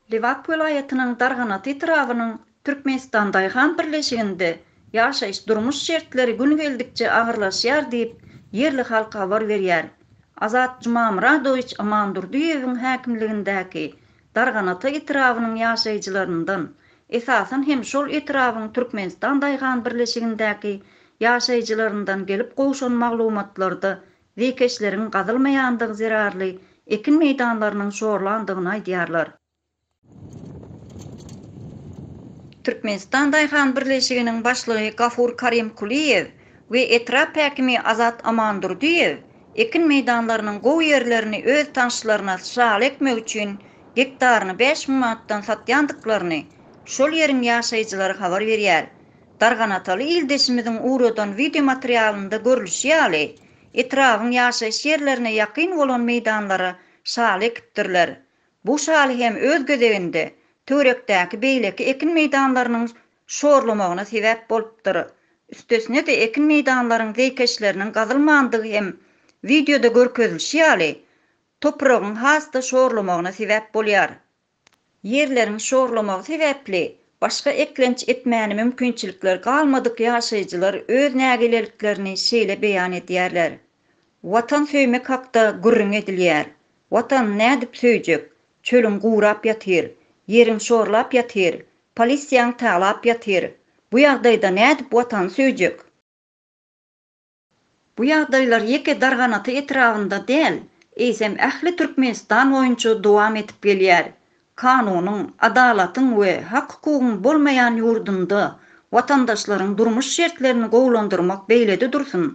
Lebap welaýatynyň Darganat etrabynyň Türkmenistan daýhan birleşiginde ýaşaýyş-durmuş şertleri gün geldikçe agyrlaşýar diýip, ýerli halk habar berýär. Azat Jumamyradowiç Amandurdyýewiň häkimligindäki Darganata etrabynyň ýaşaýjylaryndan, esasan hem şol etrabyň Türkmenistan daýhan birleşigindäki ýaşaýjylaryndan gelip gowşan maglumatlarda zeýkeşleriň gazylmaýandygy zerarly ekin meýdanlarynyň şorlandygyny aýdýarlar. Türkmenistan daýhan birleşiginiň başlygy Gafur Karimkuliýew we etrap häkimi Azat Amandurdyýew ekin meýdanlarynyň gowy ýerlerini öz tanşlaryna şaly ekmek üçin gektaryny bäş müň manatdan satýandyklaryny şol ýeriň ýaşaýjylary habar berýär. Darganataly ildeşimiziň ugradan wideomaterialynda görlüşi ýaly, etrabyň ýaşaýyş ýerlerine ýakyn bolan meýdanlara şaly ekipdirler. Bu şaly hem öz gezeginde, töwerekdäki beýleki ekin meýdanlarynyň şorlamagyna sebäp bolupdyr. Üstesine-de ekin meýdanlaryň zeýkeşleriniň gazylmandygy hem wideoda görkezilişi ýaly, topragyň has-da şorlamagyna sebäp bolýar. Ýerleriň şorlamagy sebäpli başga eklenç etmäne mümkinçilikleri galmadyk ýaşaýjylar öz nägileliklerini şeýle beýan edýärler, Watan söýmek hakda gürrüň edilýär. Watany nädip söýjek? Çölüň gurap ýatyr. Ýeriň şorlap ýatyr. Polisiýaň talap ýatyr. Bu ýagdaýda nädip Watany söýjek? Bu ýagdaýlar ýeke Darganata etrabynda däl, eýsem ähli Türkmenistan boýunça dowam edip gelýär. Kanunyň, adalatyň we hak-hukugyň bolmaýan ýurdunda watandaşlaryň durmuş şertlerini gowulandyrmak beýlede dursun,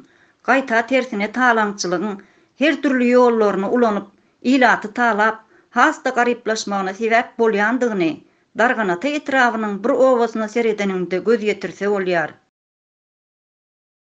gaýta tersine talaňçylygyň her dürli ýollaryny ulanyp, ilaty talap, has-da garyplaşmagyna sebäp bolýandygyny Darganata etrabynyň bir obasyna seredeniňde göz ýetirse bolýar.